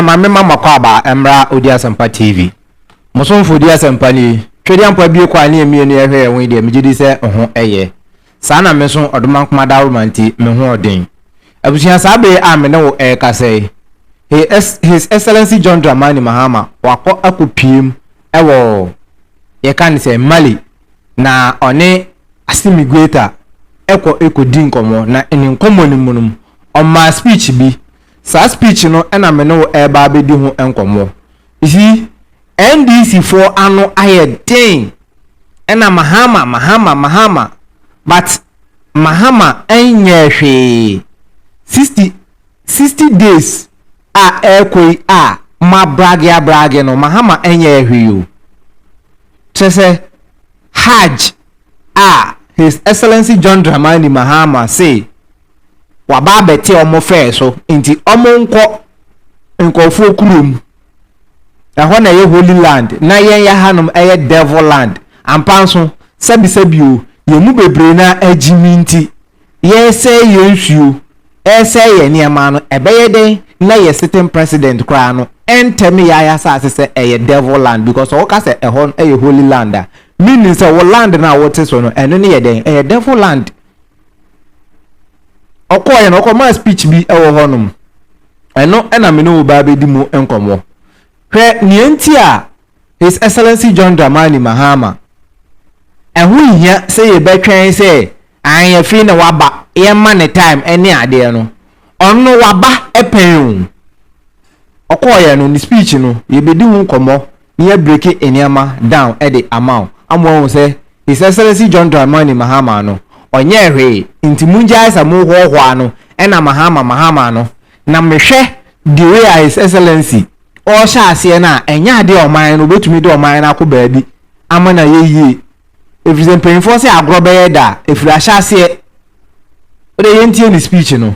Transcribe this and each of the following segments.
ma me ma mo akwaaba mmra odi asɛmpa TV. Mo somfo odi asɛmpa ni. Tweduampɔ abue kɔ a ne yɛn mmienu yɛ hwɛ yɛn ho yi deɛ megye di sɛ ho yɛ. Saa na me nso ɔdomankoma dawroma nti me ho ɔden. Abusua saa bere a me ne wo rekasa yi He Ex His Excellency John Dramani Mahama wakɔ akɔ pue mu wɔ yɛka ne sɛ Mali na ɔne Assimi Goita kɔ kɔ di nkɔmmɔ na ne nkɔmmɔ no mu no ɔmaa speech bi Saa speech no na me ne wo reba abɛdi ho nkɔmmɔ. You see, NDC foɔ ano ayɛ den ɛna Mahama, Mahama, Mahama but Mahama nyɛɛ hwee. Sixty, sixty days a ɛrekɔ yi a mo abrage abrage no, Mahama nyɛɛ hwee o. Kyerɛ sɛ Hajj a His Excellency John Dramani Mahama say wɔaba abɛte wɔn fɛɛ so nti wɔn nkɔ nkurɔfoɔ kurom ɛhɔ na ɛyɛ holy land na yɛn yɛ hanom ɛyɛ devil land ampa nso sɛbisɛbi o yɛn mu bebree na agyimi nti yɛresɛe yɛn nsuo ɛresɛe yɛn nneɛma no ɛbɛyɛ dɛn na yɛ sitting president koraa no ɛntɛm yɛ ayasase sɛ ɛyɛ devil land because ɔwoka sɛ ɛhɔ ɛyɛ holy land a meaning sɛ wo land no a wote so no ɛno no yɛ dɛn ɛyɛ devil land ɔkɔeɛ no ɔkɔmaa speech bi wɔ hɔnom ɛno na me ne wo baa bɛdi mu nkɔmmɔ hwɛ nea nti a his excellency john dramani mahama ɛho hia sɛ yɛbɛtwɛn sɛ anyɛfei na waba yɛmma ne time ɛne adeɛ no ɔno waba ɛpɛn o ɔkɔeɛ no ne speech no yɛbɛdi ho nkɔmmɔ Mia breaki nneɛma down de ama wo ama woahu sɛ His Excellency John Dramani Mahama no ɔnyɛɛ hwee nti mongyae sa mo hoahoa no na Mahama Mahama no na mehwɛ the way a His Excellency ɔrehyɛ aseɛ no a ɛnyɛ adeɛ a ɔman no ɔbɛtumi de ɔman no akɔ baabi ama no ayɛ yie ɛfiri sɛ mpanyinfoɔ sɛ agorɔ bɛyɛ da a ɛfiri ahyɛ aseɛ wode yɛntie ne speech no.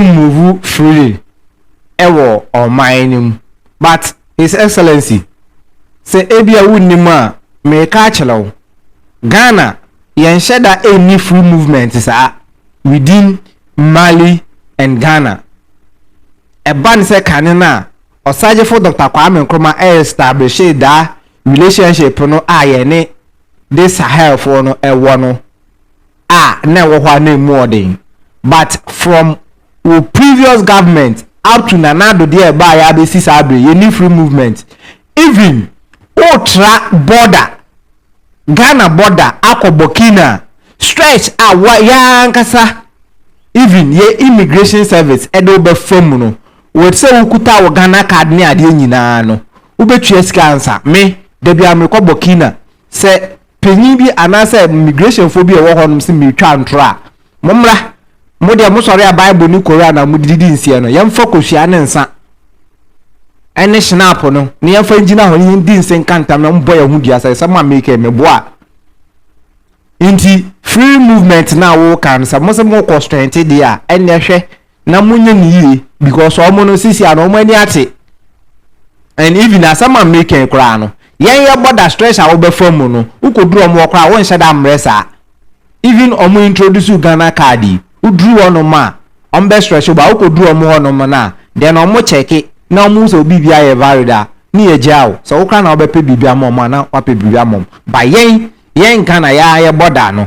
move freely wɔ ɔman no mu but his excellency sɛ ebia wonnim a mereka akyerɛ wo Ghana yɛnhyɛ da nni free movement saa within Mali and Ghana ɛba ne sɛ kane no a ɔsagyefo Doctor Kwame Nkrumah establishe daa relationship no a yɛne de Sahelfoɔ no wɔ no a na ɛwɔ hɔ a na ɛmu ɔden but from wo previous government up to Nana Addo deɛ ɛbaeɛ abɛsi saa bere yɛnni free movement even wotra border Ghana border akɔ Burkina stretch a yɛankasa even yɛ immigration service ɛde wobɛfa mu no wɔte sɛ wokuta wo Ghana card ne adeɛ nyinaa no wobɛtua sika ansa me da biara mekɔ Burkina Sɛ panyin bi anaasɛ migrehyɛnfoɔ bi a ɛwɔ hɔnom se meretwa ntorɔ a, mommra. Mo deɛ mosɔre a Bible ne Koran a mode didi nseɛ no, yɛmfa kosua ne nsa ne hyenaapo no na yɛmfa ngyina hɔ na yɛndi nse nka ntam na mommɔ yɛn ho dua sɛ sɛ mo a mereka yi meboa a. Nti free movement no a woka no sɛ mose morekɔ strengthen deɛ a, ɛnneɛ hwɛ na mo nyɛ ne yie because ɔmo no sisi ano ɔmo ani ate and even asɛm a me kɛn koraa no yɛn yɛ bɔ da stress a wobɛfa mu no wokɔ duru ɔmo wɔ koraa wo nhyɛ da mmerɛ saa even ɔmo introduce Ghana card yi wo duru hɔ nom a ɔmo bɛ stress wo ba wokɔ duru ɔmo hɔ nom na then ɔmo kyɛke na ɔmo sɛ obi bi ayɛ valid a ne yɛ gyaa wo sɛ wo koraa na wobɛpɛ biribi ama ɔmo a na wapɛ biribi ama ɔmo ba yɛn yɛn Ghana yɛn yɛ bɔ da no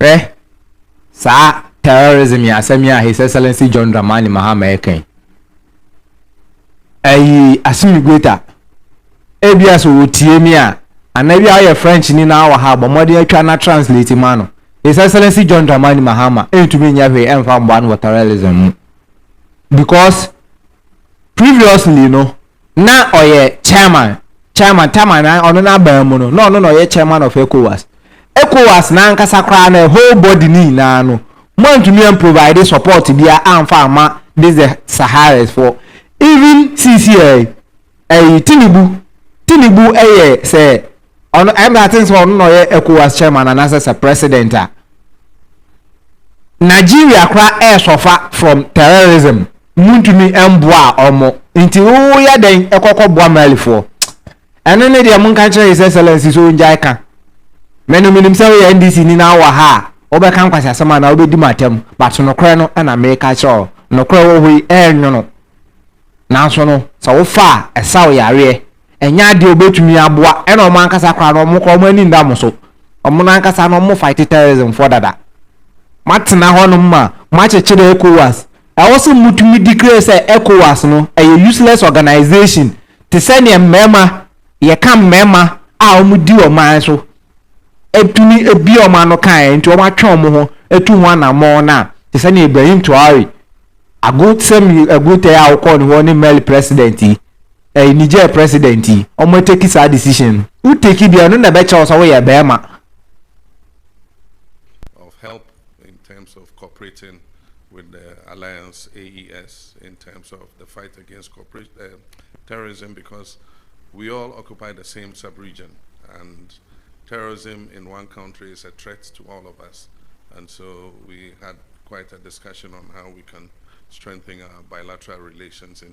Hwɛ saa terrorism yi asɛm yi a His Excellency John Dramani Mahama ɛka yi. Ayi Assimi Goita, ebia sɛ wɔtie me a, anaa bi a ɔyɛ French ni na awɔ ha bɔ mmɔden atwa na translate ma no. His Excellency John Dramani Mahama ɛntumi nyɛ hwee ɛmfa mmoa no wɔ terrorism mu. Because previously no, na ɔyɛ chairman chairman chairman na ɔno n'aban mu no na ɔno na ɔyɛ chairman of ecowas ecowas n'ankasa koraa na whole body ne nyinaa no mo antumi an provide support bia anfa ama this the saharas for even cca ɛyi tinubu tinubu ɛyɛ sɛ Ɔno ɛyɛ me aten sɛ ɔno na ɔyɛ ECOWAS chairman anaasɛ sɛ president a. Nigeria kora ɛɛsɔfa from terrorism muntumi ɛmboa ɔmo nti woyɛ dɛn ɛkɔkɔ boa Malifoɔ ɛno ne deɛ monka nkyerɛ his excellency sɛ ongyae ka mɛno menim sɛ woyɛ NDC ni na wowɔ ha a wobɛka nkwasiasɛm anaa wobɛdi matam but nokorɛ no ɛna meka kyerɛ wo nokorɛ wɔ hɔ yi ɛɛnwono nanso no sɛ wofa a ɛsaw yareɛ Ɛnyɛ adeɛ a wɔbɛtumi aboa ɛna wɔn ankasa koraa no wɔn koraa wɔn ani nda mo so. Wɔn no ankasa no wɔn fight terrorism foɔ dada. Mo atena hɔ nom ma mo akyekyere ECOWAS. Ɛwɔ sɛ mo tumi declare sɛ ECOWAS no ɛyɛ useless organization te sɛ neɛ mmarima yɛ ka mmarima a wɔn di ɔman so ɛtumi ɛbie wɔn ano kaeɛ nti wɔn atwe wɔn ho ɛtu ho anamɔn no a te sɛ neɛ Ibrahim Traore ago sɛm agotɛ a wɔkɔɔ ne hɔ ne Mali president yi. Ɛy Niger president yi ɔmo ateki saa decision no wo teki bia ɔno na ɛbɛkyerɛ wo sɛ wo yɛ bɛɛma. of help in terms of cooperating with the alliance AES in terms of the fight against corporate uh, terrorism because we all occupy the same sub-region and terrorism in one country is a threat to all of us and so we had quite a discussion on how we can strengthen our bilateral relations in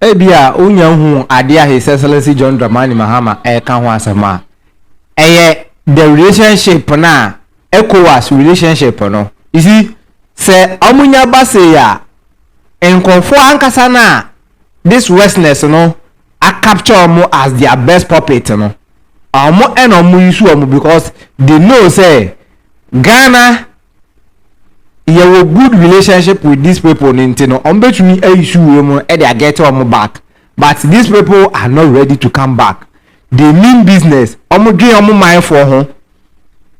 Ebia wunya nhuu ade a His Excellency John Dramani Mahama reka ho asɛm a ɛyɛ the relationship no a Ecowas relationship no. You see, sɛ wɔnya ba sei a, nkurɔfoɔ ankasa no a this Westness no a capture wɔn as their best puppet no, Ɔmo ɛna ɔmo use ɔmo because they know sɛ Ghana yɛwɔ good relationship with these people no nti no ɔmo betumi ayi su wei mu ɛde agɛte ɔmo back but these people are not ready to come back they mean business ɔmo dwen ɔmo manfoɔ ho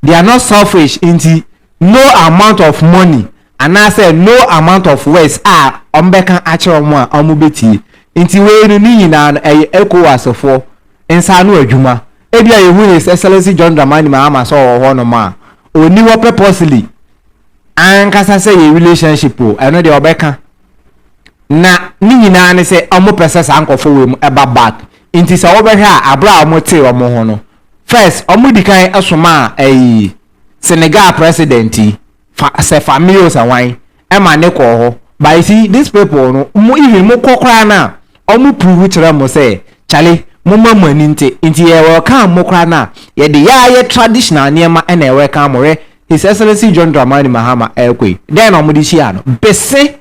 they are not selfish nti no amount of money Anaasɛ no amount of words a wɔbɛka akyerɛ wɔn a wɔbɛtie. Nti wei no, ne nyinaa no, ɛyɛ Ecowas foɔ nsa ano adwuma. Ebia yɛhu His Excellency John Dramani Mahama sɛ ɔwɔ hɔ nom a, ɔnni hɔ purposely ankasa sɛ yɛ relationship o, ɛno deɛ ɔbɛka. Na ne nyinaa ne sɛ wɔpɛ sɛ saa nkorɔfoɔ wei mu ɛba back. Nti sɛ wobɛhwɛ a, aberɛ a wɔtee wɔn ho no, first wɔdi kan somaa ɛyi Senegal president yi, Fa sɛ fa me yo sɛ hwan ɛma ne kɔɔ hɔ but you see this people no mo even mo kɔ koraa no a ɔmo prove kyerɛ mo sɛ kyale moma mo ani nte nti yɛ welcome mo koraa no a yɛde yɛ ayɛ traditional nneɛma na yɛ welcome mo hwɛ his excellency John Dramani Mahama ɛɛkɔ yi dɛn na ɔmo de hyia no bese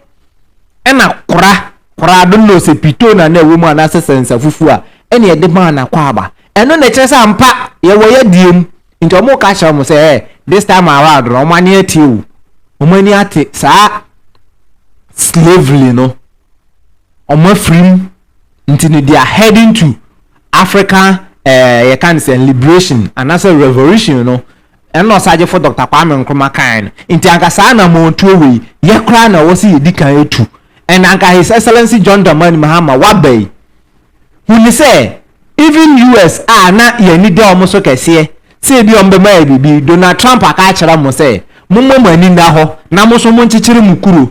ɛna kora kora don't know sɛ pito na na ɛwɔ mu anaasɛ sɛnsa fufuo a ɛna yɛde maa no akwaaba ɛno na ɛkyerɛ sɛ ampa yɛwɔ yɛdeɛ mu. Nti ɔmo ka kyerɛ ɔmo sɛ, eh, this time around no ɔmo ani atie o, ɔmo ani ate saa slavery no, ɔmo afiri mu, nti no they are heading to African eh, yɛka no sɛ liberation anaasɛ revolution no, ɛna ɔsagyefo Dɔkta Kwame Nkrumah kae no, nti anka saa anamɔntuo wei yɛ koraa na ɛwɔ sɛ yɛdi kan tu, and anka His Excellency John Dramani Mahama waba yi, Hu no sɛ even US a na yɛn ani da wɔn so kɛseɛ sɛ ebi a wɔbɛma yɛ biribi, Donald Trump aka akyerɛ wɔn sɛ mommɔ mo ani nna hɔ na mo nso monkyekyere mo kuro.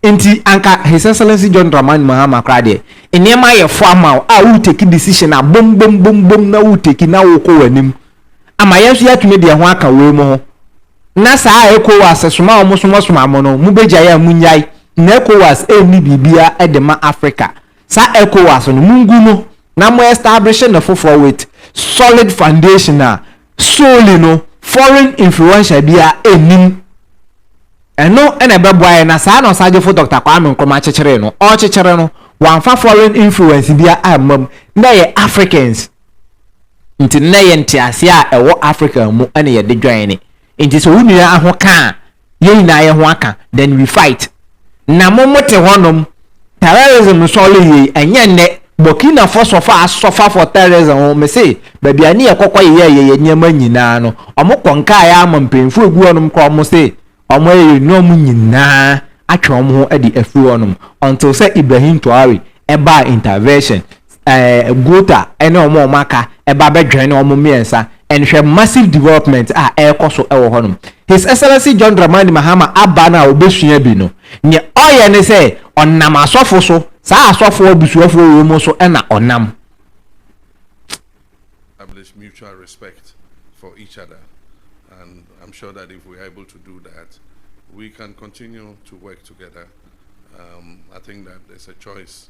Nti anka His Excellency John Dramani Mahama koraa deɛ, nneɛma ayɛ fo ama wo a wo take decision a bom bom bom bom na wo take na wo kɔ w'anim ama yɛn nso yɛatumi deɛ ho aka wei mo ho. Na saa a ECOWAS soma a wɔsomasoma mo no, mobɛgyae a monnyae. Na ECOWAS ɛnni biribiara de ma Africa. saa Ecowas no mungu no na mo establish no foforɔ with solid foundation a solely no foreign influential biara nnim. Ɛno na ɛbɛboa yɛn na saa na Ɔsagyefo Dɔkta Kwame Nkrumah kyekyeree no. Ɔrekyekyere no, wamfa foreign influence biara amma mu. Nnɛ yɛ Africans nti nnɛ yɛ nteaseɛ a ɛwɔ Africa mu na yɛde join ne. Nti sɛ wo nua ho ka a, yɛn nyinaa yɛn ho aka then we fight na mo mo te hɔ nom terrorism nsɔre yie ɛnyɛ nnɛ Burkina fɔ sɔfa asɔfa for terrorism ho me se baabi a ne yɛ kɔkɔ yɛ yɛ yɛ nneɛma nyinaa no ɔmo kɔ nkaa yɛ ama mpanyinfoɔ egu hɔ nom kora ɔmo se ɔmo yɛ yɛ nneɛma nyinaa atwe ɔmo ho ɛde afiri hɔ nom until sɛ Ibrahim Traore ɛbaa intervention eh, Guta ne wɔn a wɔaka ba bɛdwɛn wɔn mmiɛnsa and hwɛ massive development a ɛrekɔ so wɔ hɔnom. His Excellency John Dramani Mahama aba no a obesua bi no, nea ɔyɛ ne sɛ ɔnam asɔfo so, saa asɔfo abusuafoɔ wɔ mu so na ɔnam. establish mutual respect for each other. And I'm sure that if we're able to do that, we can continue to work together. Um, I think that there's a choice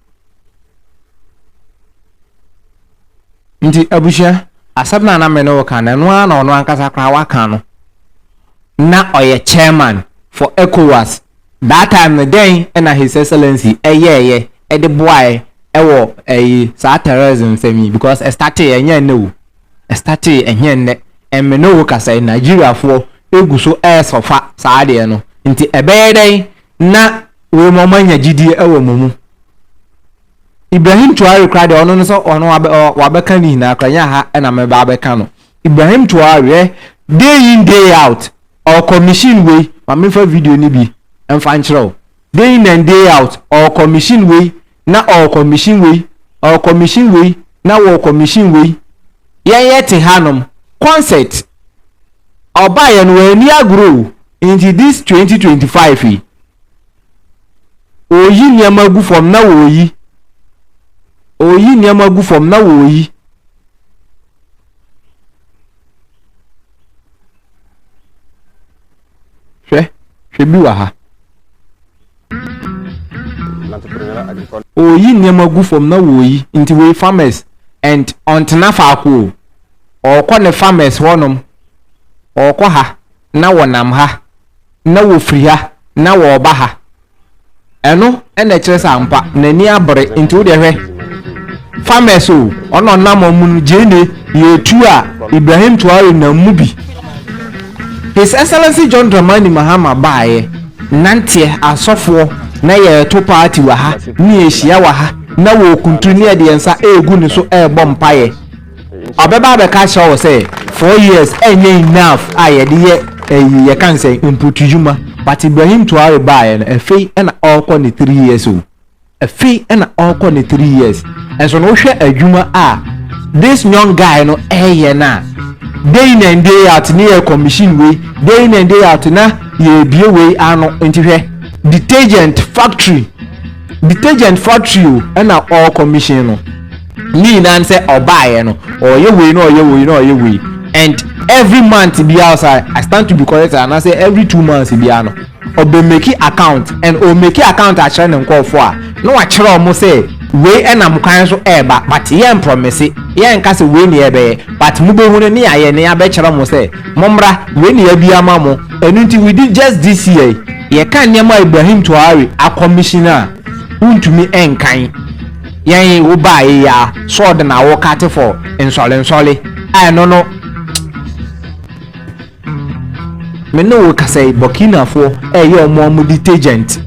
Nti abusua, asɛm no a na me ne wo ka no, ɛno ara na ɔno ankasa koraa waka no. Na ɔyɛ chairman for ECOWAS. That time no, dɛn na His Excellency yɛeɛ de boaeɛ wɔ ɛyi, saa terrorism nsɛm yi? Because ɛstartee, ɛnyɛ ɛnnɛ o. Ɛstartee, ɛnyɛ ɛnnɛ. And me ne wo kasa yi, Nigeriafoɔ gu so resuffer saa adeɛ no. Nti ɛbɛyɛ dɛn na wei ma wɔanya gyidie wɔ mo mu. Ibrahim Traore koraa deɛ ɔno no sɛ ɔno wabɛ ɔ- wabɛka ne nyinaa koraa nyɛ aha ɛna mɛba abɛka no. Ibrahim Traore ɛ day in day out ɔkɔ machine wei ma memfa video no bi mfa nkyerɛ wo. Day in and day out ɔkɔ machine wei na ɔrekɔmihyin wei, ɔrekɔmihyin wei, na wɔrekɔmihyin wei. Yɛn yɛte hanom, concert, ɔbaeɛ no wanni agorɔ o, nti this 2025 yi, ɔreyi nneɛma agu fam na wɔreyi, ɔreyi nneɛma agu fam na wɔreyi. Hwɛ, hwɛ bi wɔ ha. Ɔreyi nneɛma agu fam na ɔreyi nti wei farmers and ɔntena faako o ɔrekɔ ne farmers hɔ nom ɔrekɔ ha na ɔnam ha na ɔfiri ha na ɔreba ha ɛno na ɛkyerɛ sɛ ampa n'ani abere nti wo deɛ hwɛ farmers o ɔna ɔnam ɔmo no gyeene yɛtu a Ibrahim Traore nam mu bi. His Excellency John Dramani Mahama baeɛ nanteɛ asɔfoɔ na yɛreto party wɔ ha ne yɛhyia wɔ ha na wɔrekunturu ne yɛde yɛn nsa regu ne so rebɔ mpaeɛ. Ɔbɛba abɛka akyerɛ wo sɛ four years ɛnyɛ enough a yɛde yɛ ɛyi yɛka no sɛn mputudwuma but Ibrahim Traore baeɛ no ɛfei na ɔrekɔ ne three years o. Afe na ɔkɔ ne three years nso no wohwɛ adwuma a this young guy no ɛyɛ no a day in and day out ne yɛ commission wei day in and day out na yɛbie wei ano nti hwɛ detergent factory detergent factory o ɛna ɔwɔ commission no ne nyinaa no sɛ ɔbaeɛ no ɔyɛ wei na ɔyɛ wei na ɔyɛ wei and every month biara sɛ i stand to be corrected anaasɛ every two months biara no Ɔbɛ meki account and ɔmeki account akyerɛ ne nkɔɔfoɔ a na wakyerɛ ɔmo sɛ wei ɛnam kwan so ɛɛba but yɛn prɔmese yɛn nka sɛ wei na yɛbɛyɛ but mo bɛhunu ne yayɛ ne yabɛkyerɛ mo sɛ mo mmra wei na yabie ama mo ɛno nti within just this year yi yɛka nneɛma a Ibrahim Traore akɔmihyin a wontumi nkan yɛn yi wo baaɛ yi aa sɔɔ de na wo kate for nsɔre nsɔre a ɛno no Me ne wo kasa yi, Burkinafoɔ ɛyɛ wɔn a wɔde tagent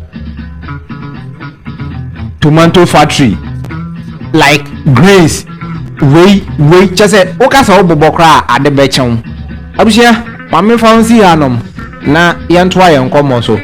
tomato factory like grains wei wei kyɛ sɛ woka sɛ wobobɔ koraa a ade bɛkyɛ wo abusua ma mefa wo nsi hanom na yɛntoa yɛn nkɔmmɔ so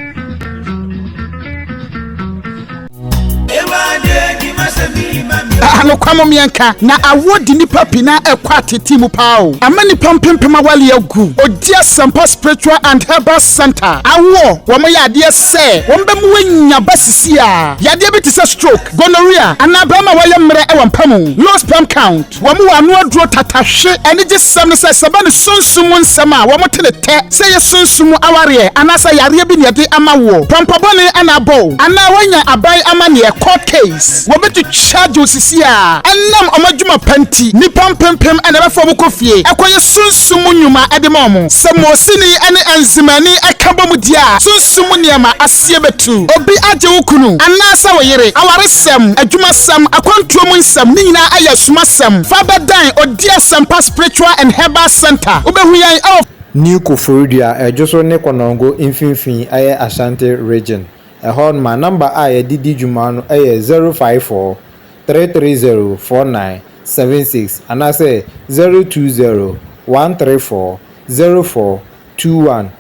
Anokwa mom yɛnka, na awoɔ de nnipa pii na ɛkɔ atetee mu paa o. Ama nnipa mpempem awale agu. Ogye Asɛmpa Spiritual and Herbal Centre awoɔ, wɔyɛ adeɛ sɛ wɔbɛma woanya ba sisiaa yadeɛ bi te sɛ stroke, gonorrhea anaa barima a wayɛ mmerɛ wɔ mpa mu, low sperm count. Wɔn wɔ ano aduro tata hwe anigye sɛm no sɛ sɛ ɛba ne sunsum mu nsɛm a wɔn te ne tɛ sɛ ɛyɛ sunsum mu awareɛ anaasɛ yareɛ bi na ɛde ama woɔ, pɔmpɔ bɔne na abɔ wo anaa woanya aban amaneɛ, court case, wɔbɛtu charge wo sisi a ɛnam wɔn adwuma pa nti nnipa mpempem na ɛbɛfa wɔn kɔ fie ɛkɔyɛ sunsum mu nnwuma de ma wɔn sɛ Mosini ne Enzimani ɛka bɔ mu di a sunsum mu nneɛma Sɛ yɛbɛtu obi agye wo kunu anaasɛ wo yere, awaresɛm, adwumasɛm, akwantuo mu nsɛm, ne nyinaa ayɛ asumasɛm. Fa bɛdan Odie Asɛmpa Spiritual and Herbal Centre. Wobɛhu yɛn wɔ. New Koforidua, ɛdwo so ne Konongo mfimfini ɛyɛ Ashanti Region. Ɛhɔ nom a number a yɛde di dwuma no ɛyɛ 0543304976 anaasɛ 0201340421.